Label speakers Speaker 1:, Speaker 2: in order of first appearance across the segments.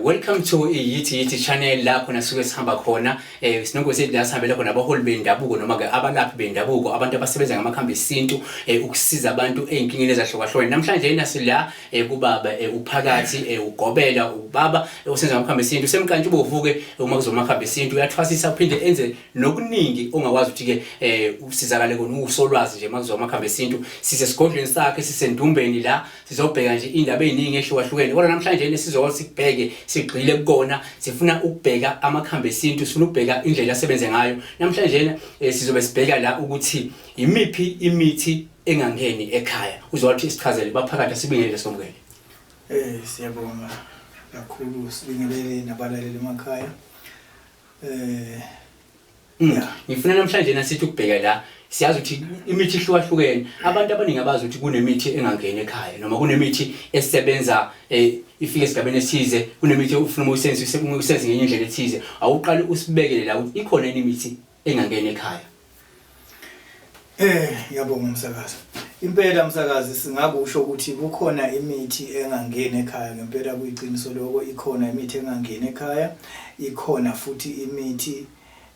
Speaker 1: Welcome to iyithi yithi channel lapho nasuke sihamba khona eh sinonke sithi la sihambela khona abaholi bendabuko noma ke abalaphi bendabuko abantu abasebenza ngamakhambi esintu eh ukusiza abantu ezinkingeni ezahlukahlukene namhlanje yena sila eh kubaba eh uphakathi eh ugobela ubaba eh, osenza ngamakhambi esintu semkantshu bovuke eh, uma kuzomakhambi esintu uyathwasisa uphinde enze nokuningi ongakwazi ukuthi ke eh usizakale kona usolwazi nje makuzomakhambi esintu sise sigodlweni sakhe sisendumbeni la sizobheka nje indaba eziningi ehlukahlukene kodwa namhlanje ne sizokwazi sikubheke sigxile kukona sifuna ukubheka amakhambi esintu sifuna ukubheka indlela asebenze ngayo namhlanje eh, sizobe sibheka la ukuthi imiphi imithi engangeni ekhaya uzowathi sichazele baphakathi sibingelele somkele eh
Speaker 2: siyabonga kakhulu sibingelele nabalaleli emakhaya eh
Speaker 1: Yeah. Ngifuna namhlanje na sithi ukubheka la siyazi ukuthi imithi ihlukahlukene. Abantu abaningi abazi ukuthi kunemithi engangeni ekhaya noma kunemithi esebenza eh ifike esigabeni esize kunemithi ufuna uma usenze use- uma usenze ngenye indlela ethize awuqali usibekele la ukuthi ikhona yini imithi engangeni ekhaya. Eh
Speaker 2: yabonga umsakazi. Impela msakazi singakusho ukuthi kukhona imithi engangeni ekhaya ngempela kuyiqiniso lokho ikhona imithi engangeni ekhaya ikhona futhi imithi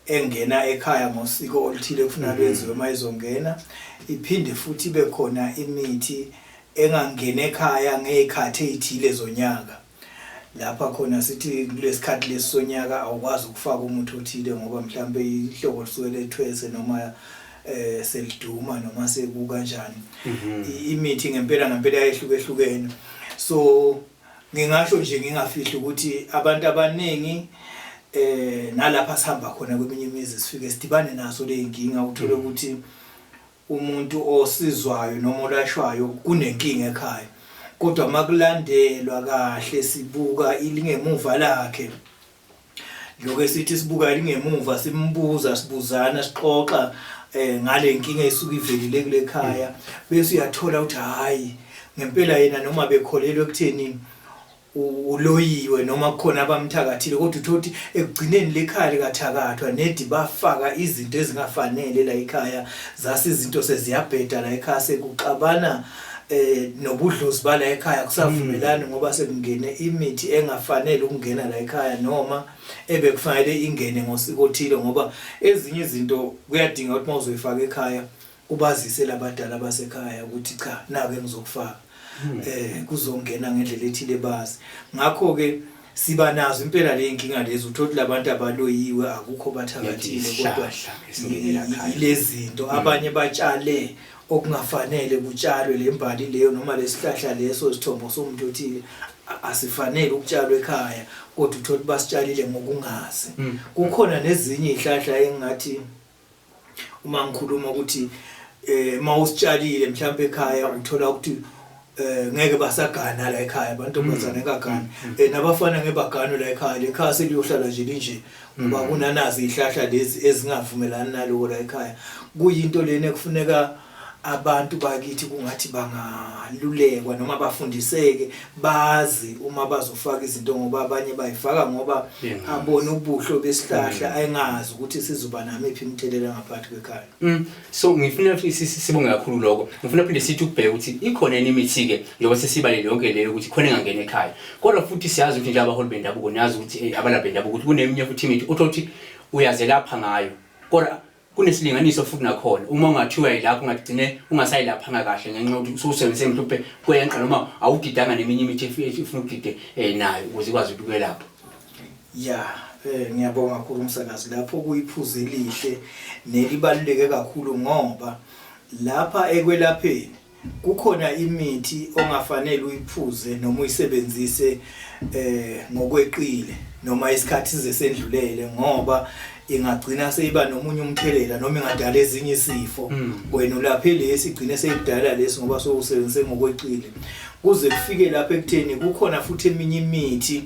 Speaker 2: engena ekhaya ngosiko oluthile ekufuneka lwenziwe uma izongena, iphinde futhi ibe khona imithi engangeni ekhaya ngey'khathi ey'thile zonyaka. Lapha khona sithi kulesi khathi lesi sonyaka awukwazi ukufaka umuthi othile ngoba mhlawumbe ihlobo lisuke lethwese noma eh seliduma noma sekukanjani. Mhm. Imithi ngempela ngempela yayihlukehlukene. So Ngingasho nje ngingafihli ukuthi abantu abaningi eh nalapha sihamba khona kweminye imizi sifike sidibane naso leyinkinga uthole mm. ukuthi umuntu osizwayo noma olashwayo kunenkinga ekhaya kodwa makulandelwa kahle sibuka ilingemuva lakhe Lokho sithi sibuka lingemuva simbuza sibuzana sixoxa eh ngale nkinga esuke ivelile kule khaya bese uyathola ukuthi hayi ngempela yena noma bekholelwe ekutheni uloyiwe noma kukhona abamthakathile kodwa uthothi ekugcineni lekhaya likathakathwa nedi bafaka izinto ezingafanele la ekhaya zase izinto seziyabheda la ekhaya sekuxabana eh nobudlozi bala ekhaya kusavumelani ngoba sekungene imithi engafanele ukungena la ekhaya noma ebekufanele ingene ngosiko othile ngoba ezinye izinto kuyadinga ukuthi mawuzoyifaka ekhaya ubazise labadala basekhaya ukuthi cha nake ngizokufaka eh kuzongena ngendlela ethile bazi ngakho ke siba nazo impela le nkinga lezi uthothi labantu abaloyiwe akukho bathakathile kodwa Ngezihlahla esingenela ekhaya. lezi zinto abanye batshale okungafanele kutshalwe le mbali leyo noma lesihlahla leso isithombo somuntu othile asifanele ukutshalwa ekhaya kodwa uthola ukuthi basitshalile ngokungazi hmm. kukhona nezinye izihlahla engathi uma ngikhuluma ukuthi eh mawusitshalile mhlawumbe ekhaya uthola ukuthi eh ngeke basagana la ekhaya abantu mm. bazana kagana mm. eh nabafana ngebagano la ekhaya le khaya seliyohlala nje linje ngoba mm. kunanazi ihlahla lezi ezingavumelani naloko la ekhaya kuyinto lena kufuneka abantu bakithi kungathi bangalulekwa noma bafundiseke bazi uma bazofaka izinto ngoba abanye bayifaka ngoba abone ubuhlo besihlahla ayengazi ukuthi sizoba namiphi imithelela ngaphansi kwekhaya Mm. So ngifuna ukuthi
Speaker 1: sibonge kakhulu lokho. Ngifuna phinde sithi ukubheka ukuthi ikhona yini imithi ke njengoba sesibalele yonke leyo ukuthi khona engangena ekhaya. Kodwa futhi siyazi ukuthi nje abaholi bendabuko niyazi ukuthi eh, abalaphi bendabuko ukuthi kuneminye futhi imithi uthothi uyazelapha ngayo. Kodwa kunesilinganiso futhi nakhona uma ungathiwa yilapho ungagcine ungasayilaphanga kahle ngenxa yokuthi ususebenzise mhlawumbe kweyenqa noma awudidanga neminye imithi efuna ukudide eh, nayo ukuze ikwazi ukukwelapha. Ya, eh
Speaker 2: ngiyabonga kakhulu umsakazi lapho kuyiphuzu elihle nelibaluleke kakhulu ngoba lapha ekwelapheni kukhona imithi ongafanele uyiphuze noma uyisebenzise eh ngokweqile noma isikhathi sesendlulele ngoba ingagcina seyiba nomunye umthelela noma ingadala ezinye isifo Mm. wena ulaphe lesi igcine seyidala lesi ngoba sowusebenzise ngokweqile kuze kufike lapha ekutheni kukhona futhi eminye imithi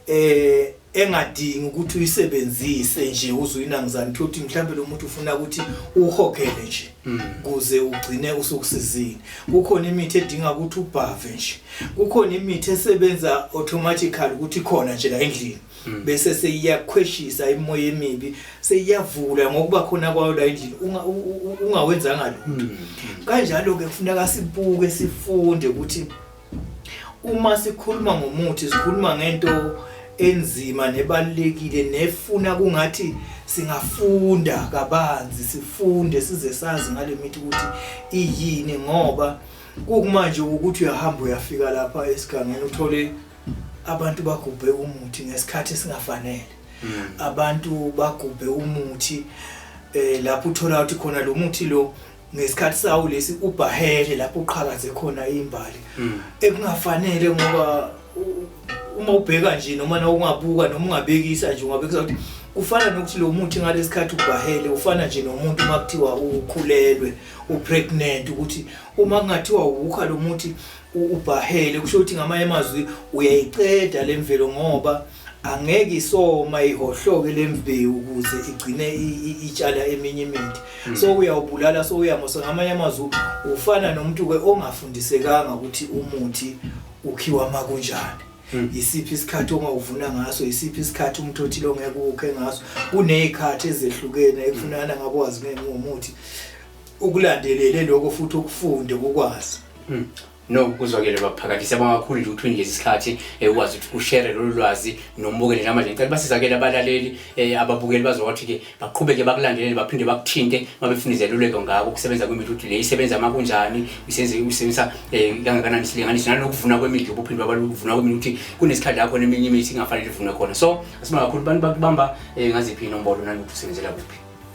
Speaker 2: eh engadingi ukuthi uyisebenzise nje uzuyinangizani thothi mhlawumbe lo muntu ufuna ukuthi uhogele nje hmm. kuze ugcine usukusizini kukhona imithi edinga ukuthi ubhave nje kukhona imithi esebenza automatically ukuthi khona nje la endlini hmm. bese seyiyakhweshisa imoya emibi seyiyavula ngokuba khona kwayo la endlini ungawenzanga lutho hmm. kanjalo ke kufuneka sibuke sifunde ukuthi Uma sikhuluma ngomuthi sikhuluma ngento enzima nebalulekile nefuna kungathi singafunda kabanzi sifunde size sazi ngalemithi ukuthi iyini ngoba kukumanje ukuthi uyahamba uyafika lapha esigangeni uthole abantu bagubhe umuthi ngesikhathi singafanele hmm. abantu bagubhe umuthi eh lapho uthola ukuthi khona lo muthi lo ngesikhathi sawo lesi ubhahele lapho uqhakaze khona imbali hmm. ekungafanele ngoba uma ubheka nje noma na ungabuka noma ungabekisa nje ungabekisa ukuthi ufana nokuthi lo muthi ngalesikhathi ubhahele ufana nje nomuntu uma kuthiwa ukhulelwe upregnant ukuthi uma kungathiwa ukha lo muthi ubhahele kusho ukuthi ngamanye amazwi uyayiceda lemvelo ngoba angeke isoma ihohloke lembewu ukuze igcine itshala eminye imithi hmm. so uyawubulala so uyamosa ngamanye amazwi ufana nomuntu ke ongafundisekanga ukuthi umuthi ukhiwa makunjani hmm. isiphi isikhathi ongawuvuna ngaso isiphi isikhathi umuntu othile ongeke ukhe ngaso kunezikhathi ezehlukene ekufunana ngakwazi ngomuthi ukulandelele lokho futhi ukufunde ukwazi hmm. No
Speaker 1: kuzwakele baphakathi siyabonga kakhulu nje ukuthi unikeze isikhathi eh, ukwazi ukuthi ushare lolu lwazi nombukeli namanje ngicela basizakele abalaleli eh, ababukeli bazowathi ke baqhubeke bakulandelele baphinde bakuthinte mabefuna izeluleko ngako kusebenza kwemithi ukuthi le isebenza uma kunjani isenze usebenzisa eh, kangakanani isilinganiso nanokuvuna kwemithi ubuphinde babalukuvuna kwemithi ukuthi kunesikhathi lapho neminye imithi ingafanele ivunwe khona so asibonga kakhulu abantu bakubamba ngaziphi inombolo nanokuthi usebenzela kuphi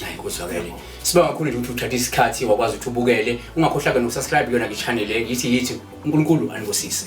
Speaker 1: Hayi kuzwakele. Siba kakhulu nje ukuthi uthatha isikhathi wakwazi ukuthi ubukele. Ungakhohlaka nokusubscribe kuyona ke channel le yithi yithi uNkulunkulu anibusise.